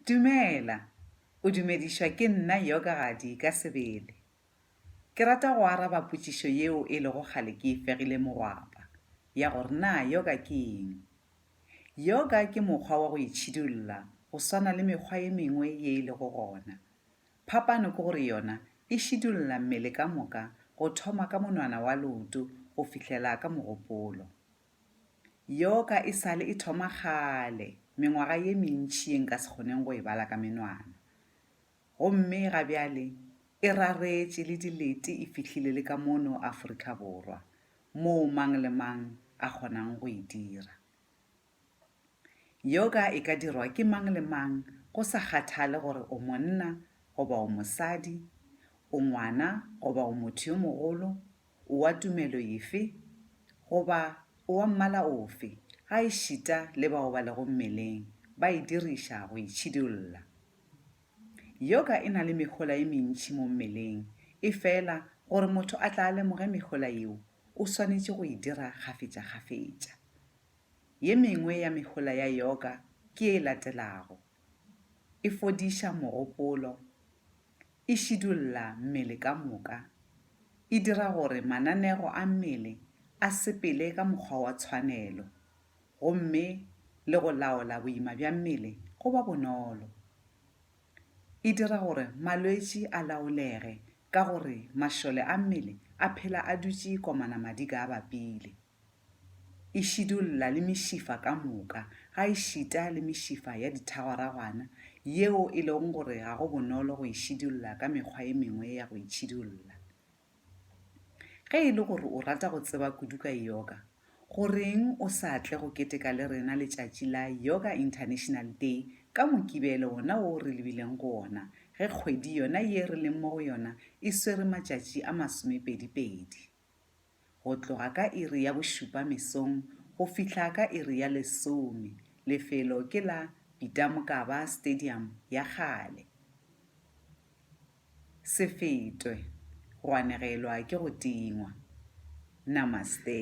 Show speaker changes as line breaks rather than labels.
Dumela, o dumedišwa ke nna Yogadi ka sebele. Ke rata go araba potšišo yeo e lego kgale ke e fegile mogwapa, ya gore na yoga ke eng. Yoga ke mokgwa wa go itšhidulla go swana le mekgwa ye mengwe ye e lego gona. Phapano ke gore yona e šidulla mmele ka moka go thoma ka monwana wa leoto go fihlela ka mogopolo. Yeo ka e sale e thoma kgale, mengwaga ye mentši ye nka se kgoneng go e bala ka menwana. Gomme ga bjale e raretše le dilete e fihlile le ka mono Afrika Borwa, moo mang le mang a kgonang go e dira. Yoga e ka dirwa ke mang le mang go sa kgathale gore o monna goba o mosadi, o ngwana goba o motho yo mogolo O wa tumelo efe? Goba o wa mmala ofe? Gaešita le bao ba lego mmeleng ba e diriša go itšhidolla. Yoga e na le mehola ye mentši mo mmeleng, efela gore motho a tla a lemoge mehola yeo, o swanetše go e dira kgafetšakgafetša. Ye mengwe ya mehola ya yoga ke ye e latelago, E fodiša mogopolo, e šidulla mmele ka moka, e dira gore mananego a mmele a sepele ka mokgwa wa tshwanelo, gomme le go laola boima bja mmele go ba bonolo. E dira gore malwetši a laolege ka gore mašole a mmele a phela a dutše komana madi ka a bapile. e šidulla le mešifa ka moka, gaešita le mešifa ya dithagwaragwana, yeo e lego gore ga go bonolo go e šidulla ka mekgwa e mengwe ya go e tšhidulla. Ge e le gore o rata go tseba kudu ka yoga, goreng o sa tle go keteka le rena letšatši la Yoga International Day ka Mokibelo wona wo re lebileng go wona ge kgwedi yona ye re leng mo go yona e swere matšatši a masomepedipedi? Go tloga ka iri ya bošupa mesong go fihla ka iri ya lesome, lefelo ke la Peter Mokaba Stadium ya kgale. Se fetwe, go anegelwa ke go tingwa. Namaste.